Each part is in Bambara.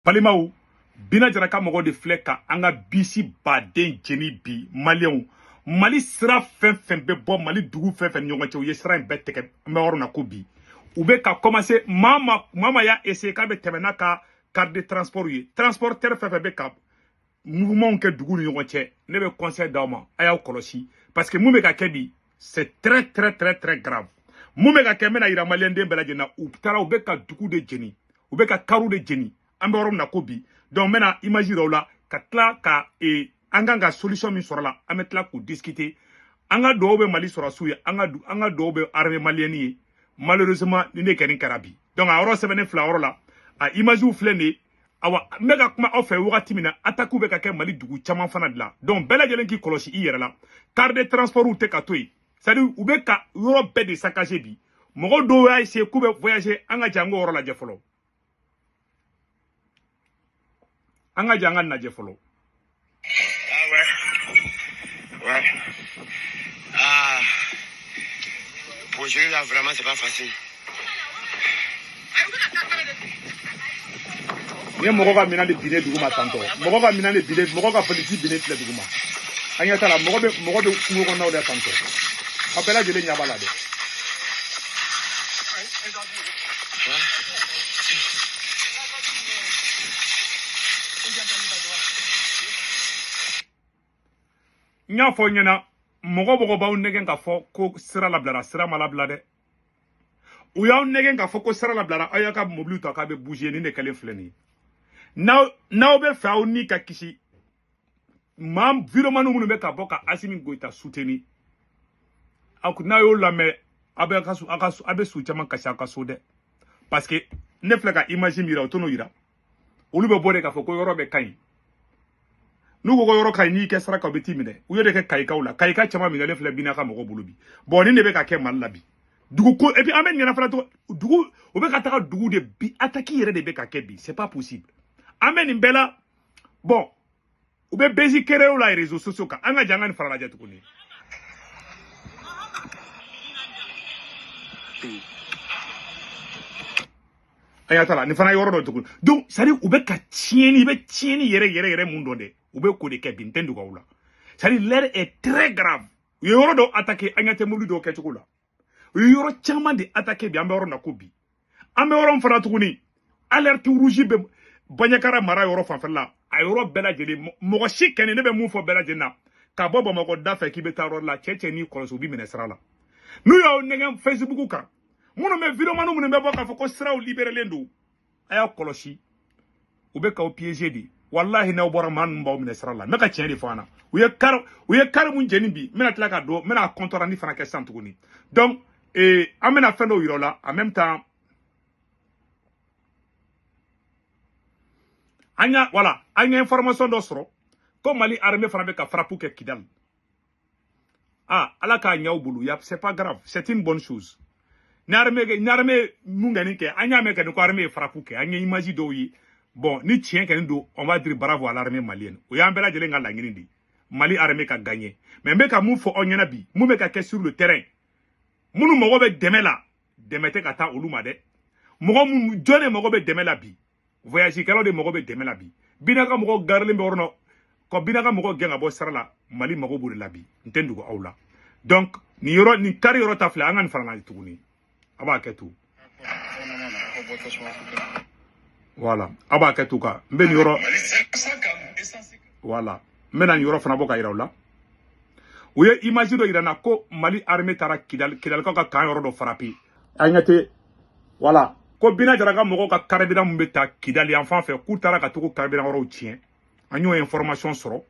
balimaw bina jara ka mɔgɔ de filɛ ka an ka bisi baden jeni bi maliyɛnw mali sira fɛn fɛn bɛ bɔ mali dugu fɛn fɛn ni ɲɔgɔn cɛ u ye sira in bɛɛ tɛgɛ an bɛ yɔrɔ na ko bi u bɛ ka kɔmanse maa maa y'a essayer k'a bɛ tɛmɛ n'a ka car de transport ye transporteur fɛn fɛn bɛ ka mouvement kɛ dugu ni ɲɔgɔn cɛ ne bɛ conseil d'aw ma a y'aw kɔlɔsi parce que mun bɛ ka kɛ bi c'est très très très très grave mun bɛ ka kɛ n bɛna yira maliyɛnden bɛɛ lajɛlen na u taara u bɛ ka dugu de jeni u bɛ ka kariw de jeni an bɛ yɔrɔ min na ko bi donc n bɛna image yira aw la ka tila ka e, an kan ka solution min sɔrɔ la an bɛ tila k'u discuter an ka dugawu bɛ mali sɔrɔsiw ye an ka an ka dugawu bɛ armée malienne ye malheureusement nin de kɛni kɛra bi donc a yɔrɔ sɛbɛnnen filɛ yɔrɔ la a images filɛ nin ye awa n bɛ ka kuma aw fɛ wagati min na atakiw bɛ ka kɛ mali dugu caman fana de la donc bɛɛ lajɛlen k'i kɔlɔsi i yɛrɛ la car de transportw tɛ ka to yen c'est à dire u bɛ ka yɔrɔ bɛɛ de saccager bi mɔgɔ dɔw y'a essayer k'u bɛ voyager an ka jɛ an k'o yɔrɔ lajɛ fɔlɔ an ka jɛ an k'a lajɛ fɔlɔ Ni mɔgɔ ka minɛn de binnen dugu ma tantɔ mɔgɔ ka minɛn de binnen mɔgɔ ka politiki binnen filɛ dugu ma an ɲɛ t'a la mɔgɔ bɛ mɔgɔ bɛ kungo kɔnɔnaw de tantɔ a bɛɛ lajɛlen ɲɛ b'a la dɛ n y'a fɔ ɲɛna mɔgɔ mɔgɔ b'aw nɛgɛn k'a fɔ ko sira labilara sira ma labila dɛ u y'aw nɛgɛn k'a fɔ ko sira labilara aw y'aw ka mobiliw ta k'aw bɛ bouger nin de kɛlen filɛ nin ye n'aw b'a fɛ aw ni ka kisi maa videomani minnu bɛ ka bɔ ka asimi goyita suteni aw n'a y'o lamɛn aw bɛ ka su aw ka su aw bɛ su caman kasi aw ka so dɛ parce que ne filɛ ka image min yira o tɛn'o yira olu bɛ bɔ de k'a fɔ ko yɔrɔ bɛɛ ka ɲi n'u ko ko yɔrɔ ka ɲi n'i kɛ sira kan u bɛ t'i minɛ u y'o de kɛ kayikaw la kayika caman minɛlen filɛ bina ka mɔgɔw bolo bi bɔn nin de bɛ ka kɛ mali la bi dugu ko et puis an bɛ ɲinɛ fana to dugu u bɛ ka taga dugu de bi ataki yɛrɛ de bɛ ka kɛ bi c'est pas possible an bɛ nin bɛɛ la bon u bɛ buzz créer u la réseaux sociaux kan an ka jɛ an ka nin fana lajɛ tuguni an y'a tala nin fana yɔrɔ dɔ tuguni donc c'est à dire u bɛ ka tiɲɛni i bɛ tiɲɛni yɛrɛ yɛrɛ yɛrɛ mun dɔn dɛ u bɛ k'o de kɛ bi n t'a dogo aw la c'est à dire l'heure est très grave u ye yɔrɔ dɔw attaquer an ɲɛ tɛ mobili dɔw kɛcogo la u ye yɔrɔ caman de atake bi an bɛ yɔrɔ na ko bi an bɛ yɔrɔ min fana tuguni alerte rouge bɛ banjagara mara yɔrɔ fanfɛla la a yɔrɔ bɛɛ lajɛlen mɔgɔ si kɛni ne bɛ mun fɔ bɛɛ lajɛlen na ka bɔ bamakɔ da fɛ k'i bɛ taa yɔrɔ la cɛ cɛ n'i kɔlɔsi u b'i minɛ sira la n'u y'aw nɛgɛn facebook kan minnu bɛ videomaniw minnu bɛ bɔ k'a fɔ ko siraw liberelen don a y'a kɔlɔsi u bɛ k'aw piéger de walahi n'aw bɔra maa ninnu b'aw minɛ sira la n bɛ ka tiɲɛ de fɔ an na u ye kari u ye kari mun jeni bi n bɛna tila ka dɔ n bɛna compte-rendu fana kɛ sisan tuguni donc ee eh, an bɛna fɛn dɔw yira aw la en même temps an y'a voilà an ye information dɔ sɔrɔ ko mali armée fana bɛ ka frappe kɛ kidali ah ala k'a ɲa u bolo ya c'est pas grave c'est une bonne chose ni armée ni armée mun kɔni kɛ an y'a mɛn kɔni ko armée ye frappe kɛ an ye image dɔw ye bon ni tiɲɛ kɔni don on va dire bravo à l'armée malienne o y'an bɛɛ lajɛlen ka laɲini de ye mali armée ka gagner mais n bɛ ka mun fɔ aw ɲɛna bi mun bɛ ka kɛ sur le terrain minnu mago bɛ dɛmɛ la dɛmɛ tɛ ka taa olu ma dɛ mɔgɔ minnu jɔn de mago bɛ dɛmɛ la bi voyage kɛlaw de mago bɛ dɛmɛ la bi bina ka mɔgɔ garilen bɛ yɔrɔ na ka bina ka mɔgɔ gɛn ka bɔ sira la mali mago b'o de la bi n tɛ dogo aw la donc nin yɔrɔ nin kari yɔrɔ ta filɛ an ka nin fara tuguni a b'a kɛ to voilà a b'a kɛ to ka n bɛ nin yɔrɔ voilà n bɛna nin yɔrɔ fana bɔ ka yira aw la u ye image dɔ yira n na ko mali armée taara kidali kidalikaw ka camp yɔrɔ dɔ frapper a ɲɛ tɛ voilà ko bina jara ka mɔgɔw ka carburant mun bɛ taa kidali yan fan fɛ k'u taara ka tugu carburant yɔrɔw tiɲɛ an y'o information sɔrɔ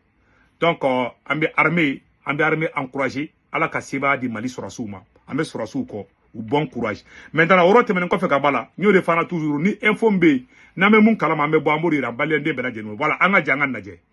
donc euh, an bɛ armée an bɛ armée encourager ala ka sebaaya di mali sɔrɔsiw ma an bɛ sɔrɔsiw kɔ u bon courage maintenant o yɔrɔ tɛmɛnen kɔfɛ ka b'a la n y'o de fana toujours ni info min bɛ yen n'an bɛ mun kalama an bɛ bɔ an b'o de jira maliyɛnden bɛɛ lajɛlen voilà an ka jɛ an ka lajɛ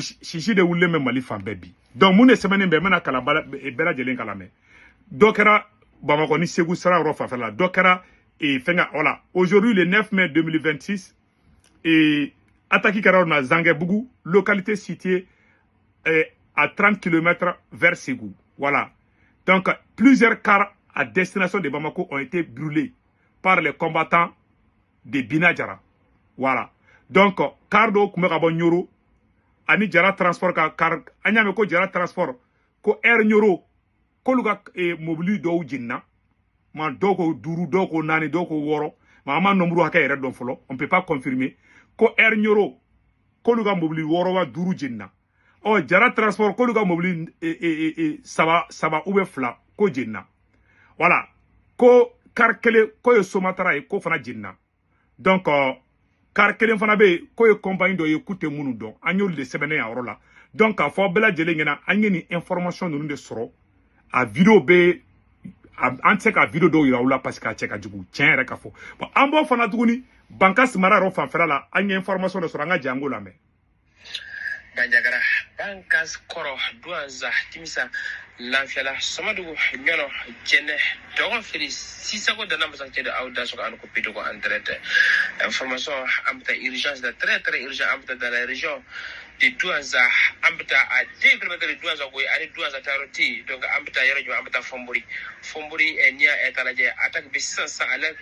sisi de wulilen bɛ mali fan bɛɛ bi donc mun de sɛbɛnnen bɛ n bɛna kalan bɛɛ lajɛlen k'a lamɛn dɔ kɛra bamakɔ ni segu sira yɔrɔ fanfɛla la dɔ kɛra eh, fɛnkɛ voilà aujourd'hui le 9 mai 2026 eh, attaque kɛra yɔrɔ na zangɛbugu localité située eh, à 30 km vers segu voilà donc plusieurs cars à destination de bamako ont été brûlés par les combattants de Bina Jara voilà donc car dɔw tun bɛ ka bɔ Ɲoro ani Jara transport ka car an y'a mɛn ko Jara transport ko air Ɲoro k'olu ka eh, mobili dɔw jenina maa dɔw ko duuru dɔw ko naani dɔw ko wɔɔrɔ ma an ma nombre hakɛ yɛrɛ dɔn fɔlɔ on peut pas confirmer ko air Ɲoro k'olu ka mobili wɔɔrɔ wa duuru jenina ɔ jara transport k'olu ka mobili e, e, e, e, saba saba ou bien fila k'o jenina voilà ko kari kelen k'o ye somatara ye k'o fana jenina donc kari kelen fana bɛ yen k'o ye compagnie dɔ ye k'u tɛ minnu dɔn an y'olu de sɛbɛnnen y'a yɔrɔ la donc k'a fɔ bɛɛ lajɛlen ɲɛna an ye nin information ninnu de sɔrɔ a video bɛ an tɛ se ka video dɔw yira aw la parce que a cɛ ka jugu tiɲɛ yɛrɛ ka fɔ bon an b'o fana tuguni bankasi mara yɔrɔ fanfɛla la an ye information dɔ sɔrɔ an ka jɛ an k'o lamɛn banjagara bankas kɔrɔ duwanza timisa lanfiyala somadugu ɲɔnɔ jɛnɛ dɔgɔfiri sisago dana amasagu de aw dansɔgɔ aw ni ko pidogo on traite information an bɛ taa urgence de très très urgent an bɛ taa dans la région de duwanza an bɛ taa à 2 kilomètres de duwanza koyi ani duwanza taa yɔrɔ tɛ yen donc an bɛ taa yɔrɔ jumɛn an bɛ taa fɔnbori fɔnbori n'i y'a ta lajɛ attaque bɛ sisan sisan à l'heure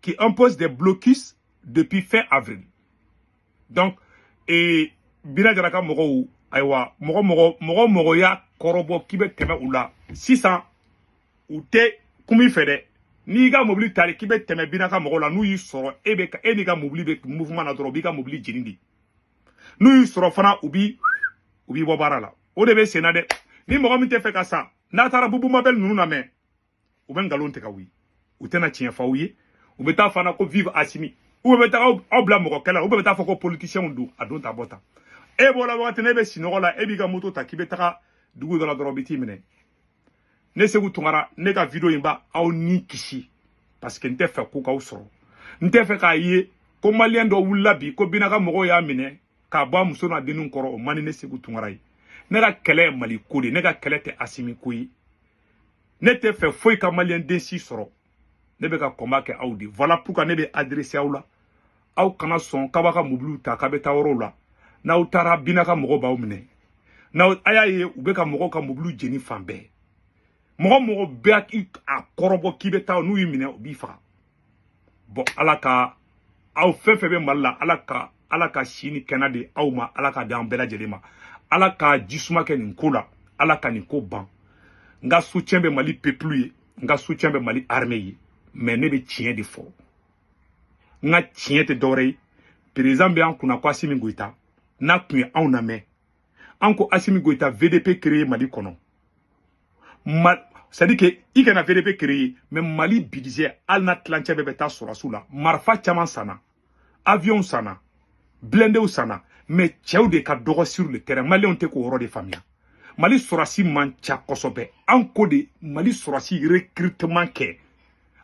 qui impose des blocus depuis fin avril. Donc, e Bina Jara ka mɔgɔw, ayiwa, mɔgɔ o mɔgɔ y'a kɔrɔbɔ k'i bɛ tɛmɛ u la sisan, u tɛ kum'i fɛ dɛ, n'i ka mobili tali k'i bɛ tɛmɛ bina ka mɔgɔw la n'u y'i sɔrɔ e bɛ e n'i ka mobili bɛ mouvement na dɔrɔn u b'i ka mobili jeni de n'u y'i sɔrɔ fana u b'i u b'i bɔ baara la o de bɛ sen na dɛ ni mɔgɔ min tɛ fɛ ka sa n'a taara bubu mabɛli ninnu namɛn u bɛ nkalon tigɛ aw ye u tɛna tiɲɛ fɔ aw ye u bɛ taa fana ko vive asimi u bɛ taa aw bila mɔgɔ kɛlɛ la u bɛ taa fɔ ko politisiyɛnw don a don ta bɔ tan e b'o la wagati na e bɛ sinɔgɔ la e b'i ka moto ta k'i bɛ taga dugu dɔ la dɔrɔn u bɛ t'i minɛ ne seku tunkara ne ka video in b'aw ni kisi parce que n tɛ fɛ ko k'aw sɔrɔ n tɛ fɛ k'a ye ko maliyɛn dɔ wulila bi ko bina ka mɔgɔw y'a minɛ k'a bɔ a muso n'a denninw kɔrɔ o man di ne seku tunkara ye ne ka kɛlɛ ye mali ko de ne ka kɛlɛ tɛ asimi ko ye ne tɛ fɛ foyi ka maliyɛn den si sɔrɔ ne bɛ ka combat kɛ aw de voilà pourquoi ne bɛ adresser aw la aw kana sɔn k'aw b'a ka mobiliw ta k'a bɛ taa yɔrɔw la n'aw taara bina ka mɔgɔ b'aw minɛ n'aw a y'a ye u bɛ ka mɔgɔw ka mobiliw jeni fan bɛɛ mɔgɔ o mɔgɔ b'a kɔrɔbɔ k'i bɛ taa n'u y'i minɛ u b'i faga bɔn ala ka aw fɛn fɛn bɛ mali la ala ka ala ka si ni kɛnɛya di aw ma ala k'a di an bɛɛ lajɛlen ma ala ka ji suma kɛ nin ko la ala ka nin ko ban n ka soutien bɛ mali peuple ye n ka soutien bɛ mali armée ye mais ne bɛ tiɲɛ de fɔ n ka tiɲɛ tɛ dɔwɛrɛ ye perezan bɛ an kunna ko asimi goyita n'a tun ye anw lamɛn an ko asimi goyita vdp créer mali kɔnɔ c'est à dire que i kana vdp créer mais mali budget hali n'a tilancɛ bɛɛ bɛ taa sɔrɔdasiw la marifa caman sanna avion sanna blindéw sanna mais cɛw de ka dɔgɔ sur le terrain maliyɛnw tɛ k'o yɔrɔ de faamuya mali sɔrɔdasi man ca kosɛbɛ an ko de mali sɔrɔdasi recrutement kɛ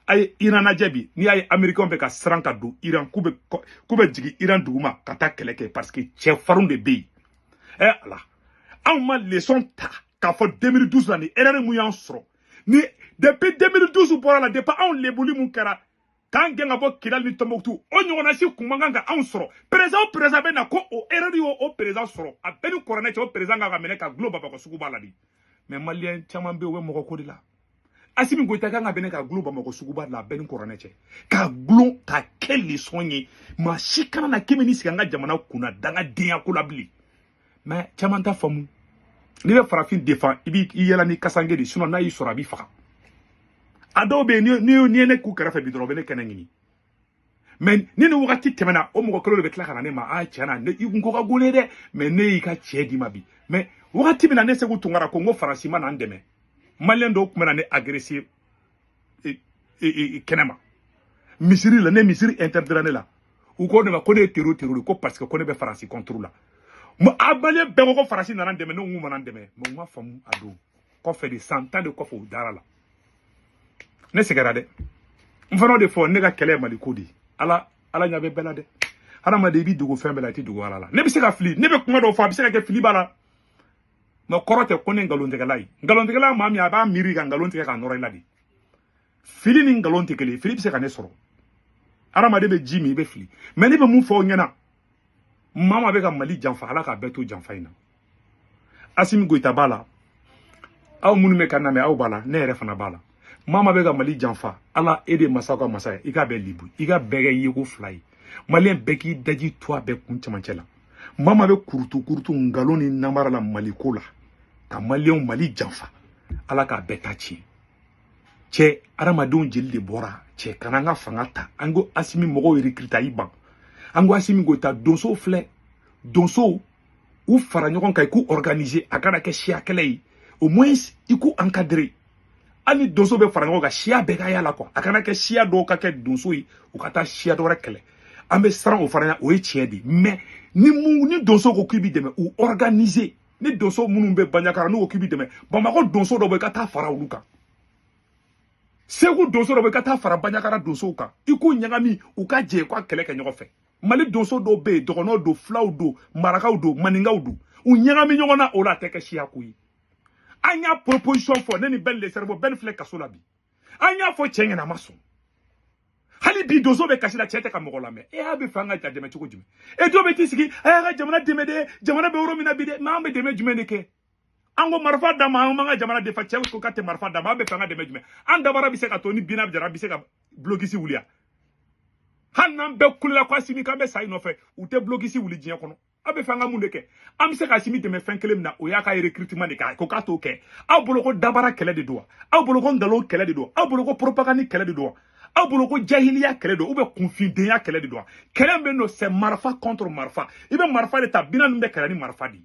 a ye iran lajɛ bi n'i y'a ye américainw bɛ ka siran ka don iran k'u bɛ k'u bɛ jigin iran duguma ka taa kɛlɛ kɛ parce que cɛfarinw de bɛ yen eh, ala anw ma leçon ta k'a fɔ 2012 la ni erreur mun y'an sɔrɔ ni depuis 2012 bɔra la depuis anw lebuli mun kɛra k'an gɛn ka bɔ kidali ni tɔnbɔkutu o ɲɔgɔnna si kun man kan ka anw sɔrɔ perezan o perezan bɛ na ko o erreur y'o perezan sɔrɔ a bɛɛ ni kɔrɔnɛ cɛ o perezan kan ka minɛ k'a golo bɔ a kɔ suguba la de mais maliyɛn caman bɛ yen u bɛ mɔgɔ ko de la asimi goyita kan ka minɛ ka gulon bamakɔ suguba la a bɛɛ ni kɔrɔnɛ cɛ ka gulon ka kɛ lesɔn ye maa si kana na k'i bɛ n'i sigi an ka jamana kunna dangadenya ko la bilen mɛ caman t'a faamu n'i bɛ farafin defan i b'i yaala ni kasange de sinɔn n'a y'i sɔrɔ a b'i faga a dɔw bɛ yen n'i ye ne k'u kɛrɛfɛ bi dɔrɔn u bɛ ne kɛnɛ ɲini mɛ ni ne wagati tɛmɛna o mɔgɔ kelen de bɛ tila ka na ne ma a tiɲɛ na ne i kun ko ka go ne dɛ mɛ ne y'i ka tiɲɛ d'i ma bi mɛ wagati min na ne seku tunkara ko n ko faransi ma na an dɛmɛ maliyɛn dɔw tun bɛ na ne agrese kɛnɛ ma misiri la ne misiri interdira ne la u ko ne ma ko ne ye tero tero de ko parce que ko ne bɛ faransi kɔnturu la a maliyɛn bɛɛ ko ko faransi nana an dɛmɛ ne ko n k'u ma na an dɛmɛ mɛ u ma faamu a don kɔfɛ de san tan de kɔfɛ u dara a la ne sɛgɛra dɛ n fana o de fɔ ne ka kɛlɛ ye maliko de ye ala ala ɲa bɛ bɛɛ la dɛ hadamaden i b'i dogo fɛn bɛɛ la i tɛ dogo ala la ne bɛ se ka fili ne bɛ kuma dɔw fɔ a bɛ se ka kɛ fili b'a la nk'a kɔrɔ tɛ ko ne nkalontigɛla ye nkalontigɛla maa min a b'a miiri ka nkalon tigɛ k'a nɔrɔ i la de fili ni nkalon tɛ kelen ye fili bɛ se ka ne sɔrɔ hadamaden bɛ ji min i bɛ fili mɛ ne bɛ mun fɔ aw ɲɛna maa maa bɛ ka mali janfa ala k'a bɛɛ to janfa in na asimi goyita b'a la aw minnu bɛ ka n lamɛn aw b'a la ne yɛrɛ fana b'a la maa maa bɛ ka mali janfa ala e de masaw ka masa ye i k'a bɛɛ lebu i k'a bɛɛ kɛ yeko fila ye maliyɛn bɛɛ k'i daji to a bɛɛ kun cɛmancɛ la maa maa bɛ kurutu kurutu nkalon ni namara la maliko la ka maliyɛnw mali janfa ala k'a bɛɛ ta tiɲɛ cɛ adamadenw jeli de bɔra cɛ ka na an ka fanga ta an ko asimi mɔgɔw recruter a y'i ban an ko asimi goyita donso filɛ donsow u fara ɲɔgɔn kan i k'u organiser a kana kɛ siya kɛlɛ ye au moins i k'u encadrer hali donso bɛ fara ɲɔgɔn kan siya bɛɛ ka y'a la quoi a kana kɛ siya dɔw ka kɛ donso ye u ka taa siya dɔ wɛrɛ kɛlɛ an bɛ siran o fana ɲɛ o ye tiɲɛ de ye mais ni mun ni donso ko k'i b'i dɛmɛ u organiser ni donso minnu bɛ baɲakara n'u ko k'i b'i dɛmɛ bamakɔ donso dɔ bɛ i ka taa fara olu kan segu donso dɔ bɛ i ka taa fara baɲakara donsow kan i k'u ɲagami u ka jɛ u ka kɛlɛ kɛ ɲɔgɔn fɛ mali donso dɔw bɛ yen dɔgɔnɔw don fulaw don marakaw don maninkaw don u ɲagami ɲɔgɔn na o la a tɛ kɛ siya ko ye an y'a proposition fɔ ne ni bɛn le cerveau bɛn filɛ kaso la bi an y'a fɔ cɛ ɲɛna a ma sɔn hali bi donso bɛ kasi la cɛ tɛ ka mɔgɔ lamɛn e aw b'a fɛ an ka ja dɛmɛ cogo jumɛn e dɔ bɛ t'i sigi a y'a ka jamana dɛmɛ dɛ jamana bɛ yɔrɔ min na bi dɛ mɛ an bɛ dɛmɛ jumɛn de kɛ an ko marifa d'an ma an b'an ka jamana defan cɛ ko k'a tɛ marifa d'an ma aw b'a fɛ an ka dɛmɛ jumɛn an dabara bɛ se k'a to ni bina jara bɛ se ka blocus wuli yan hali n'an bɛɛ kulela ko asimi k'an bɛ sa i nɔfɛ o tɛ blocus wuli diɲɛ kɔnɔ aw b'a fɛ an ka mun de kɛ an bɛ se ka asimi dɛmɛ fɛn kelen min na o y'a ka recrutement de k'a ko k'a t'o kɛ aw bolo ko dabara kɛlɛ de don wa aw bolo ko nkalon kɛlɛ de don aw bolo ko propagande kɛlɛ de don wa aw bolo ko jahiliya kɛlɛ don ou bien kunfindenya kɛlɛ de don wa kɛlɛ min bɛ yen non c'est marifa contre marifa i bɛ marifa de ta bina min bɛ kɛlɛ ni marifa de ye